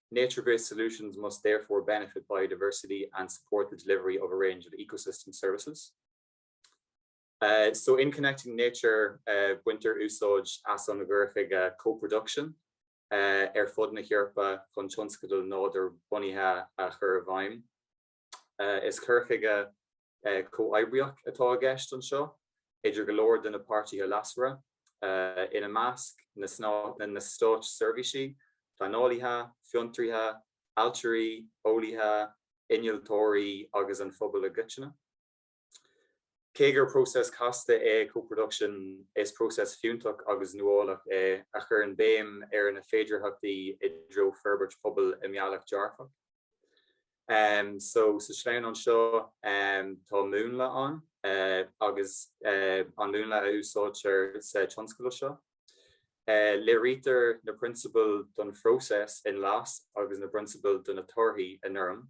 S4: Nature-based solutions must therefore benefit biodiversity and support the delivery of a range of ecosystem services. So in connecting nature, baintear úsáid as an ghaorthaige co-production ar fud na hEorpa chun tionscadail nádúr-bunaithe a chur i bhfeidhm. Is cur chuige comhoibríoch atá i gceist anseo idir go leor de na páirtithe leasmhara, ina measc, na Stáit Seirbhísí, Pleanálaithe, Fiontraithe, Ailtirí, Eolaithe, Innealtóirí agus an phobal i gcoitinne. Cé gur próiseas casta é co-production, is próiseas fiúntach agus nuálach é a chuireann béim ar na féidearthachtaí i dtreo forbairt pobail i mbealach dearfach. So sa sleamhnán seo tá múnla ann agus an múnla a úsáidtear sa tionscadal seo. Léirítear na prionsabail don phróiseas i nglas agus na prionsabail do na torthaí i ngorm.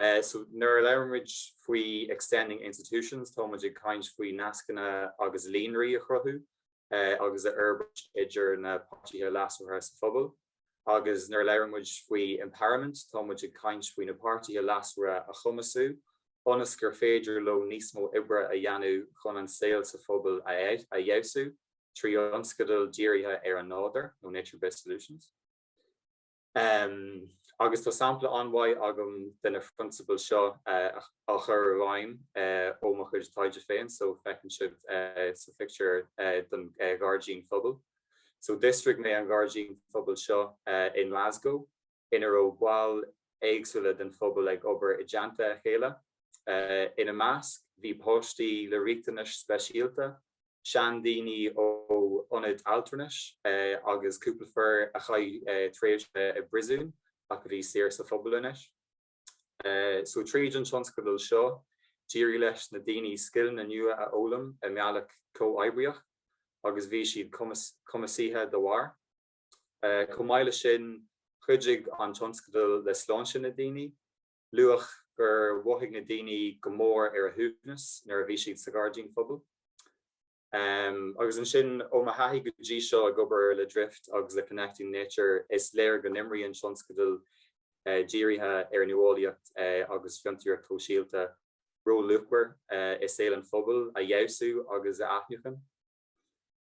S4: Uh, so nuair a labhraimid faoi extending institutions, táimid ag caint faoi nascanna agus líonraí a chruthú uh, agus a fhorbairt idir na páirtithe leasmhara sa phobal. Agus nuair a labhraimid faoi empowerment, táimid ag caint faoi na páirtithe leasmhara a chumasú ionas gur féidir leo níos mó oibre a dhéanamh chun an saol sa phobal a, a fheabhsú trí thionscadail dírithe ar an nádúr nó nature-based solutions. agus tá sampla an-mhaith agam de na prionsabail seo á chur i bhfeidhm ó mo chuid taighde féin, so feiceann sibh sa phictiúr den Ghairdín Phobail. So d'fhiosraigh mé an Ghairdín Phobail seo i nGlasgow ina raibh baill éagsúla den phobal ag obair i dteannta a chéile. Ina measc bhí páistí le riachtanais speisialta, seandaoine ó ionad altranais agus cúpla fir a chaith tréimhse i bpríosún ach a bhí saor sa phobal anois. So tríd an tionscadal seo, d'éirigh leis na daoine scileanna nua a fhoghlaim i mbealach comhoibríoch agus bhí siad cumasaithe da bharr. Chomh maith leis sin, chuidigh an tionscadal le sláinte na ndaoine. luach gur mhothaigh na daoine go mór ar a shuaimhneas nuair a bhí siad sa Ghairdín Phobail. Agus ansin, ó mo thaithí go dtí seo ag obair le Drift agus le Connecting Nature, is léir go n-imríonn tionscadail dírithe ar nuálaíocht agus fiontraíocht shóisialta ról luachmhar i saol an phobail a fheabhsú agus a athnuachan.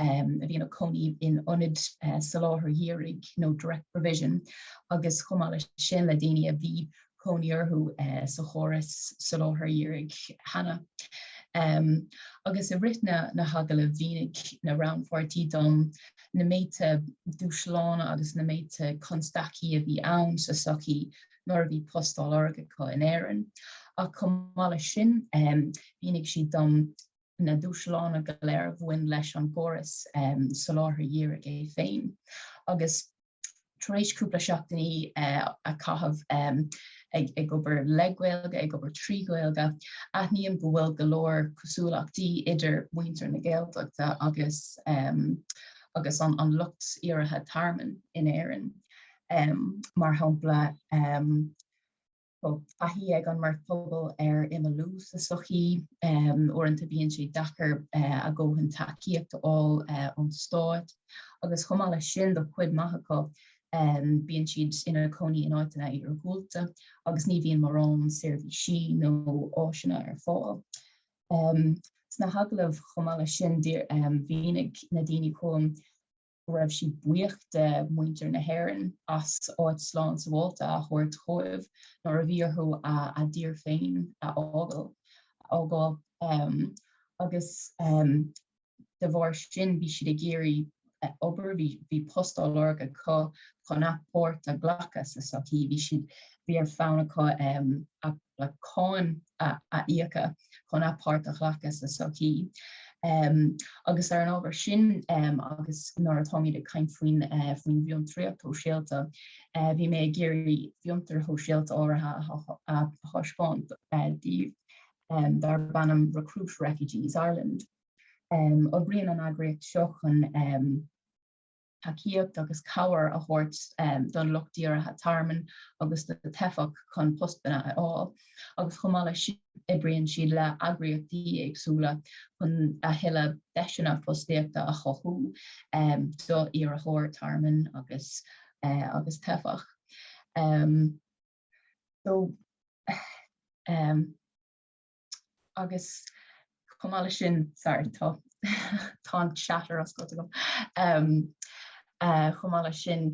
S3: um, a bhí ina cónaí in ionad uh, soláthar dhírigh nó no direct provision agus chomh maith leis sin le daoine a bhí cónaí orthu uh, sa chóras soláthar dhírigh cheana. Um, agus i rith na, na hagallaimh mhínigh na rannpháirtithe dom na méadta dúshlána agus na méadta constaicí a bhí ann sa sochaí nuair a bhí post á lorg acu in Éirinn. Ach chomh maith leis sin, um, mhínigh siad dom na dúshlána go léir a bhain leis an gcóras soláthair dhírigh é féin agus tar éis cúpla seachtainí a chaitheamh ag obair le Gaeilge, ag obair trí Ghaeilge, aithním go bhfuil go leor cosúlachtaí idir muintir na Gaeltachta agus an lucht iarrtha tearmainn in Éirinn. Mar shampla, bhfuil taithí ag an mbeirt pobal ar imeallú sa tsochaí. Uaireanta bíonn sé deacair a ndóthain tacaíocht a fháil ón stát agus chomh maith leis sin do chuid maith acu bíonn siad ina gcónaí in áiteanna iargúlta agus ní bhíonn mórán seirbhísí nó áiseanna ar fáil. Sna hagallaimh chomh maith leis sin mhínigh na daoine chugam, go raibh siad buíoch de mhuintir na hÉireann as áit slán sabháilte a thabhairt dhóibh nuair a bhí orthu a dtír féin a fhágáil agus de bharr sin bhí siad ag iarraidh obair, bhí post á lorg acu chun a bpáirt a ghlacadh sa tsochaí, bhí siad, bhí ar fonn acu a. le cáin a íoc chun a bpáirt a ghlacadh sa tsochaí. Agus ar an ábhar sin agus nuair atáimid ag caint faoin bhfiontraíocht shóisialta, bhí mé ag iarraidh fiontar shóisialta áirithe a thaispeáint daoibh darb ainm Recruit Refugees Ireland. Oibríonn an eagraíocht seo chun. tacaíocht agus cabhair a thabhairt don lucht iarrtha tearmainn agus do teifeach chun postanna a fháil agus chomh maith leis sin oibríonn siad le heagraíochtaí éagsúla chun a thuilleadh deiseanna fostaíochta a chothú do iarrthóir tearmainn agus agus teifeach. So um, agus chomh maith leis sin, sorry, tá tá an chat ar oscailt agam, chomh maith leis sin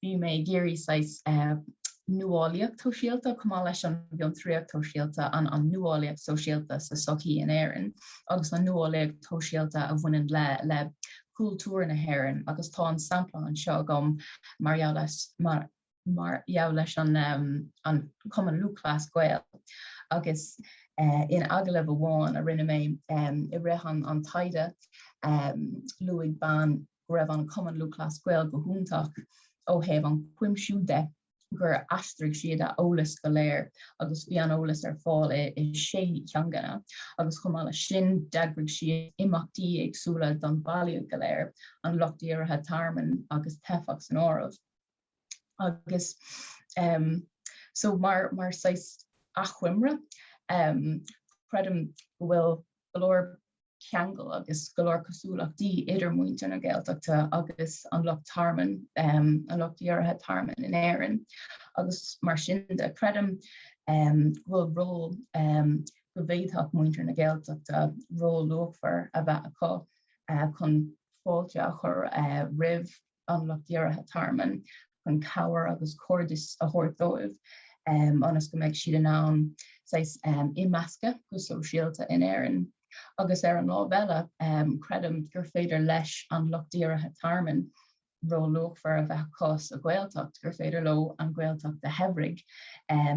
S3: bhí mé ag iarraidh saghas nuálaíocht shóisialta chomh maith leis an bhfiontraíocht shóisialta, an an nuálaíocht sóisialta sa tsochaí in Éirinn agus an nuálaíocht shóisialta a bhaineann le le cultúr na hÉireann agus tá an sampla anseo agam mar gheall as mar mar gheall leis an Cumann Lúthchleas Gael agus in agallamh amháin a rinne mé i rith an taighde luaigh bean go raibh an Cumann Lúthchleas Gael go hiontach ó thaobh an cuimsiú de, gur aistrigh siad a eolas go léir agus bhí an eolas ar fáil i sé teangana agus chomh maith leis sin d'eagraigh siad imeachtaí éagsúla don bhaile go léir, an lucht iarrtha tearmainn agus teifeach san áireamh. agus so mar saghas achoimre creidim go bhfuil go leor ceangal agus go leor cosúlachtaí idir muintir na Gaeltachta agus an Lucht Tearmainn, an Lucht Iarrtha Tearmainn in Éirinn agus mar sin de creidim go bhfuil ról go bhféadfadh muintir na Gaeltachta ról luachmhar a bheith acu chun fáilte a chur roimh an lucht iarrtha tearmainn chun cabhair agus cairdeas a thabhairt dóibh ionas go mbeidh siad in ann saghas imeascadh go sóisialta in Éirinn. Agus ar an lámh eile, creidim gur féidir leis an lucht iarrtha tearmainn ról luachmhar a bheith acu sa Ghaeltacht, gur féidir leo an Ghaeltacht a shaibhriú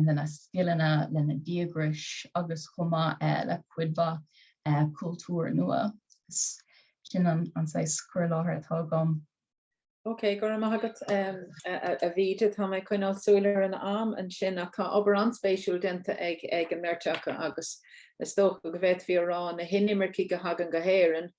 S3: lena scileanna, lena díograis agus chomh maith le cuid mhaith cultúr nua. Sin é an saghas cur i láthair atá agam. Ok,
S2: go raibh maith agat a Mhíde. Tá mé ag coinneáil súil ar an am ansin ach tá obair an-spéisiúil déanta ag an mbeirt acu agus is dócha go bhféadfaí a rá na hinimircigh a thagann go hÉirinn,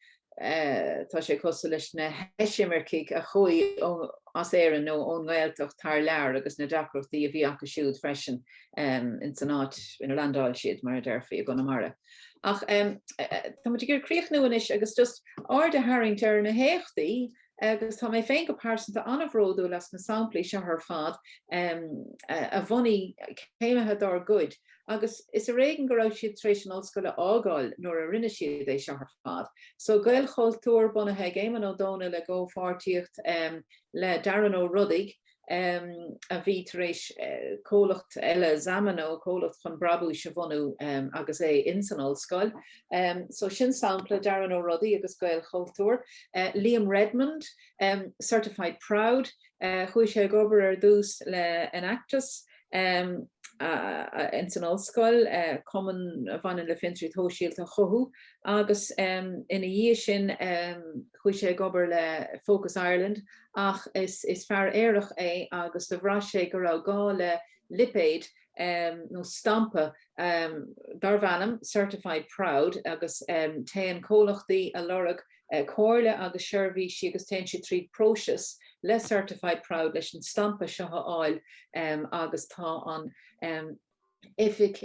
S2: tá sé cosúil leis na heisimircigh a chuaigh as Éirinn nó ón nGaeltacht thar lear agus na deacrachtaí a bhí acu siúd freisin ins an áit ina landáil siad, mar a déarfaí i gConamara. Ach tá muid ag iarraidh críochnú anois agus just aird a tharraingt ar na héachtaí agus tá mé féin go pearsanta an-bhródúil as na samplaí seo ar fad a bhunaigh céimithe dár gcuid agus is ar éigean go raibh siad tar éis an ollscoil a fhágáil nuair a rinne siad é seo ar fad. So Gaelchultúr bunaithe ag Éamonn Ó Dónaill i gcomhpháirtíocht le Darren Ó Rodaigh a bhí tar éis comhlacht eile Zamano, comhlacht chun brabúis a bhunú agus é in san ollscoil. So sin sampla Darren Ó Rodaigh agus Gaelchultúr. Liam Redmond, Certified Proud, chuaigh sé ag obair ar dtús le Enactus in san ollscoil, cumann a bhaineann le fiontraíocht shóisialta a chothú agus ina dhiaidh sin chuaigh sé ag obair le Focus Ireland ach is fear aerach é agus do bhraith sé go raibh gá le lipéad nó stampa darb ainm Certified Proud agus téann comhlachtaí ag lorg comhairle agus seirbhísí agus téann siad trí phróiseas le Certified Proud leis an stampa seo a fháil agus tá an Oifig.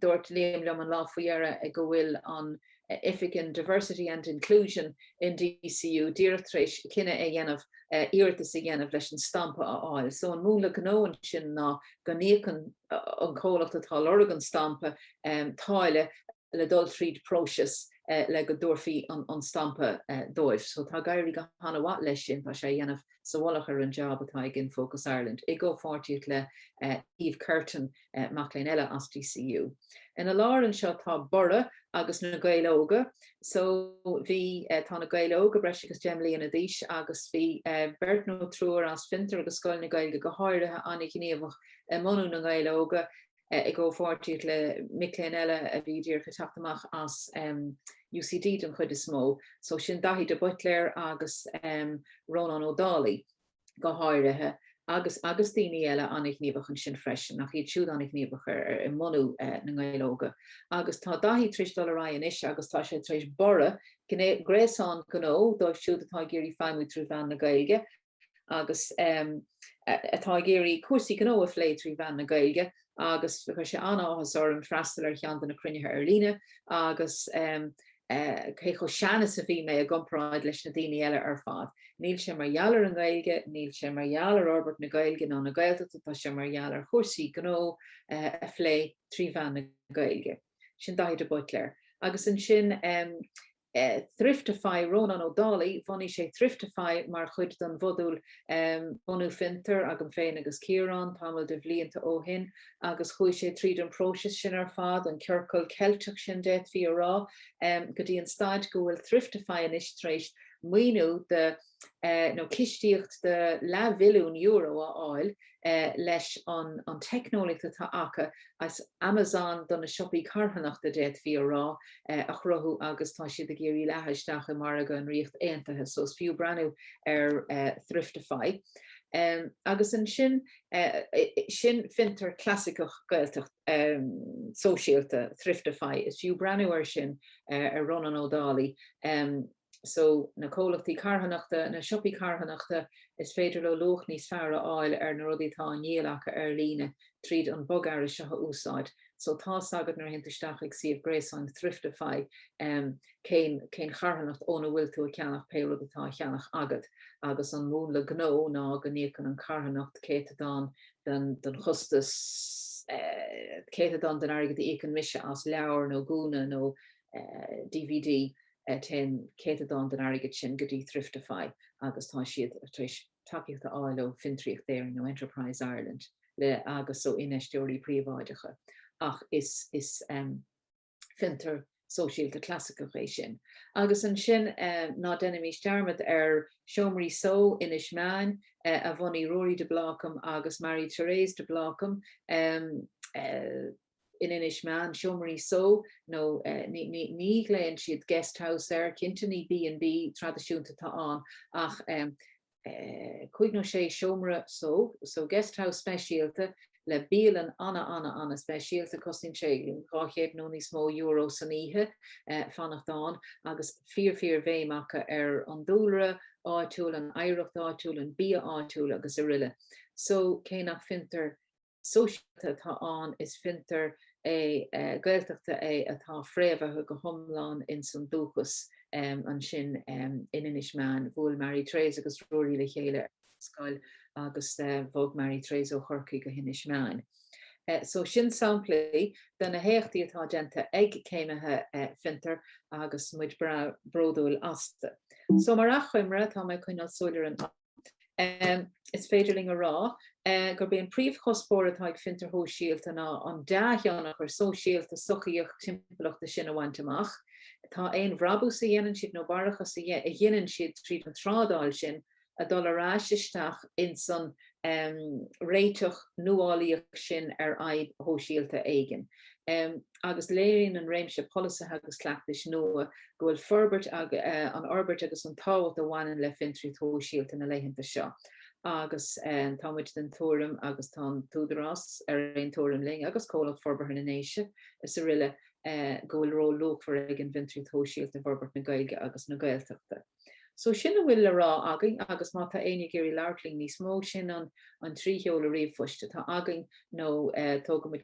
S2: Dúirt Liam liom an lá faoi dheireadh go bhfuil an oifig in Diversity and Inclusion in DCU díreach tar éis cinneadh a dhéanamh iarratas a dhéanamh leis an stampa a fháil. So an múnla gnó ansin ná go n-íocann an comhlacht atá ag lorg an stampa táille, le dul tríd próiseas le go dtabharfaí an stampa dóibh. So tá ag éirí go han-mhaith leis sin, tá sé a dhéanamh sa mhullach ar an jab atá ag In Focus Ireland, i gcomhpháirtíocht le Aoibh Curtin, mac léinn eile as DCU. Ina lár anseo tá Borradh agus Na Gaeil Óga, so bhí, tá Na Gaeil Óga breis agus deich mbliana d'aois agus bhí beirt nó triúr as Fiontar agus Scoil na Gaeilge go háirithe an-ghníomhach i mbunú Na nGaeil Óga, i gcomhpháirtíocht le mic léinn eile a bhí díreach ag teacht amach as UCD den chuid is mó, so sin Daithí de Buitléar agus Rónán Ó Dálaigh go háirithe agus agus daoine eile an-ghníomhach ansin freisin, ach iad siúd an-ghníomhach i mbunú na nGael Óga. Agus tá Daithí tar éis dul ar aghaidh anois agus tá sé tar éis Borradh, gréasán gnó dóibh siúd atá ag iarraidh feidhmiú trí mheán na Gaeilge, agus atá ag iarraidh cúrsaí gnó a phlé trí mheán na Gaeilge agus chuir sé an-áthas orm freastal ar cheann de na cruinnithe ar líne agus cé chomh sean is a bhí mé i gcomparáid leis na daoine eile ar fad. Níl sé mar gheall ar an nGaeilge, níl sé mar gheall ar fhorbairt na Gaeilge ná na Gaeltachta, tá sé mar gheall ar chúrsaí gnó a phlé trí mheán na Gaeilge. Sin Daithí de Buitléar. Agus ansin Thriftify, Rónán Ó Dálaigh, bhunaigh sé Thriftify mar chuid den mhodúl bunú fiontair agam féin agus Ciarán tamall de bhlianta ó shin agus chuaigh sé tríd an bpróiseas sin ar fad, an ciorcal Ceilteach sin d'fhéadfaí a rá, go dtí an staid go bhfuil Thriftify anois tar éis maoiniú de nó cistíocht de leathmhilliún euro a fháil leis an an teicneolaíocht atá acu as Amazon do na siopaí carthanachta, d'fhéadfaí a rá, a chruthú agus tá siad ag iarraidh leathadh isteach i margadh an Ríocht Aontaithe, so is fiú breathnú ar Thriftify. Agus ansin sin fiontar clasaiceach Gaeltacht sóisialta, Thriftify, is fiú breathnú air sin ar Rónán Ó Dálaigh. so, na comhlachtaí carthanachta, na siopaí carthanachta, is féidir leo luach níos fearr a fháil ar na rudaí atá á ndíol acu ar líne tríd an mbogearra seo a úsáid. So, tá's agat nuair a théann tú isteach ag suíomh gréasáin Thriftify cén cén charthanacht óna bhfuil tú ag ceannach pé rud atá á cheannach agat agus an múnla gnó ná go n-íocann an carthanacht céatadán den den chostas céatadán den airgead a íocann mise as leabhar nó gúna nó dvd. téann céatadán den airgead sin go dtí Thriftify agus tá siad tar éis tacaíocht a fháil ó Fiontraíocht Éireann nó Enterprise Ireland le agus ó infheisteoirí príobháideacha ach is is fiontar sóisialta clasaiceach é sin. Agus ansin ná déanaimís dearmad ar Seomraí Só Inis Meáin a bhunaigh Ruairí de Blácam agus Marie Therese de Blácam in Inis Meáin, seomraí só nó ní ghlaonn siad guest house air, cinnte ní B and B traidisiúnta atá ann ach cúig nó sé seomra só, so guest house speisialta le bialann ana-ana-speisialta, cosnaíonn sé dhá chéad nó níos mó euro san oíche fanacht ann agus fíor-fhíor-bhéim acu ar an dúlra áitiúil, an oidhreacht áitiúil, an bia áitiúil agus aroile. So cé nach bhfiontar. sóisialta atá ann, is fiontar é Gaeltachta é atá fréamhaithe go hiomlán ins an dúchas. Ansin in Inis Meáin, bhuail Marie Therese agus Ruairí le chéile ar scoil agus bhog Marie Therese ó Chorcaigh go hInis Meáin. So sin samplaí de na héachtaí atá déanta ag céimithe Fiontar agus muid bródúil astu. So mar achoimre, tá mé ag coinneáil súil ar an. Is féidir linn a rá gurb é an príomhchuspóir atá ag fiontraíocht shóisialta ná an dea-thionchar sóisialta, sochaíoch, timpeallachta sin a bhaint amach. Tá aon bhrabús a dhéanann siad nó barrachas a dhéanann siad tríd an trádáil sin ag dul ar ais isteach insan réiteach nuálaíoch sin ar fhadhb shóisialta éigin. agus léiríonn an réimse polasaithe agus cleachtais nua go bhfuil forbairt an fhorbairt agus an tábhacht a bhaineann le fiontraíocht shóisialta na laethanta seo agus tá muid den tuairim agus tá an tÚdarás ar aon tuairim linn agus Comhlacht Forbartha na nDéise is araile go bhfuil ról luachmhar ag an bhfiontraíocht shóisialta i bhforbairt na Gaeilge agus na Gaeltachta. So sin a bhfuil le rá againn agus má tá éinne ag iarraidh labhairt linn níos mó sin an trí sheoladh ríomhphoist atá againn nó tógfaimid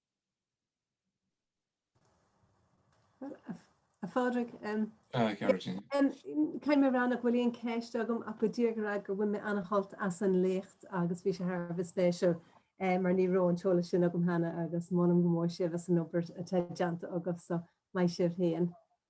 S5: A Phádraig, caithfidh mé rá nach bhfuil aon cheist agam ach go díreach a rá go bhfuair mé ana-shult as an léacht agus bhí sé thar a bheith spéisiúil mar ní raibh an t-eolas sin agam cheana agus molaim go mór sibh as an obair atá déanta agaibh so maith sibh fhéin.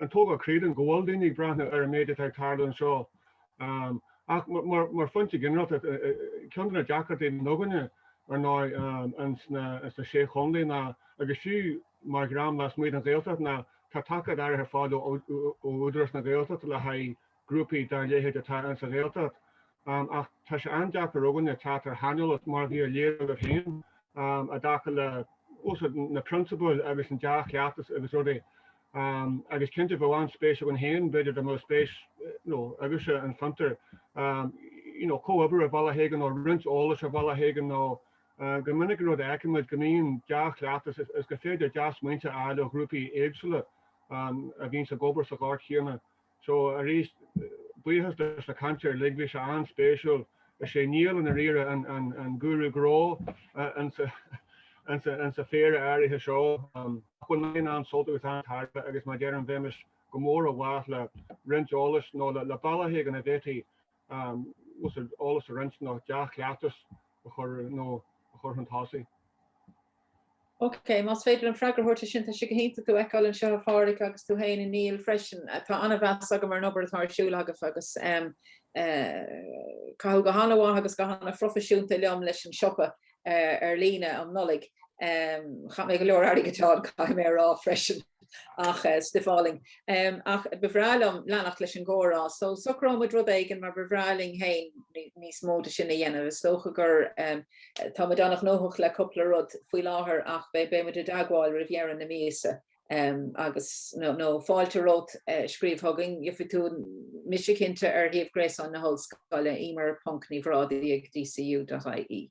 S6: An togra, creidim go bhfuil daoine ag breathnú ar an méid atá ag tarlú anseo ach mar phointe ginearálta ceann de na deacrachtaí againne ar ndóigh sna Sé Chontae ná agus fiú mar dhream lasmuigh den Ghaeltacht ná tá tacaíocht áirithe ar fáil ó Údarás na Gaeltachta le haghaidh grúpaí dá leithéid atá ins a' Ghaeltacht ach tá sé an-deacair againne teacht ar shaineolas mar a bhí á léiriú agaibh féin i dtaca le na prionsabail agus an dea-chleachtas agus rudaí agus cinnte bheadh an-spéis againn féin b'fhéidir dá mbeadh spéis agaibhse i Fiontar you know comhoibriú ar bhealach éigin nó roinnt eolais ar bhealach éigin nó go minic an rud a fheicimid go mbíonn dea-chleachtas is go féidir dea-smaointe a fháil ó ghrúpaí éagsúla a bhíonn ag obair sa ghort chéanna So, arís, buíochas leis na cainteoirí uilig, bhí sé an-spéisiúil. Is é Niall i ndáiríre an gúrú gnó in sa phéire áirithe seo. Bhain mé an-sult agus an-tairbhe agus mar a deirim bheimis go mór i bhfách le roinnt eolais nó le bealaithe éigin a bhféadfaí eolas a roinnt nó dea-chleachtas a chur chun tosaigh.
S2: Okay, más féidir an freagra a thabhairt ar sin, tá sé go hiontach tú a fheiceáil anseo a Phádhraic agus tú fhéin a Néill freisin. Tá an-mheas agam ar an obair atá ar siúl agaibh agus em eh caitheadh go han-mhaith agus go han-phroifisiúnta liom leis an siopa eh ar líne um Nollaig. Em chaith mé go leor airgid ann caithfidh mé a rá freisin. Ach stuff álainn. Ach ba bhreá liom leanacht leis an gcomhrá, so socróidh muid rud éigin mar ba bhreá linn féin níos mó de sin a dhéanamh. Is dócha gur tá muid an-ghnóthach le cúpla rud faoi láthair ach beidh muid i dteagmháil roimh dheireadh na míosa agus nó fáilte romhat scríobh chugainn, gheofaidh tú mise cinnte ar shuíomh gréasáin na hollscoile, emer.nibhradaigh ag dcu.ie.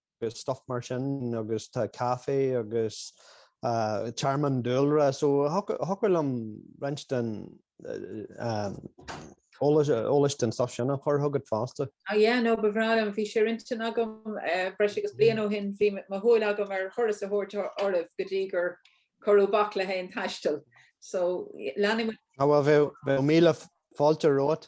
S7: agus stuff mar sin agus tá caife agus tearmann dúlra so thiocfadh liom roinnt den eolas den stuff sin a chur chugat fosta. Ah yeah no ba
S2: bhreá liom, bhí sé ar intinn agam breis agus bliain ó shin, bhí mo shúil agam ar thuras a thabhairt oraibh go dtí gur cuireadh bac le haon taisteal so leanfaidh muid. Ah bhuel bheadh
S7: míle fáilte romhat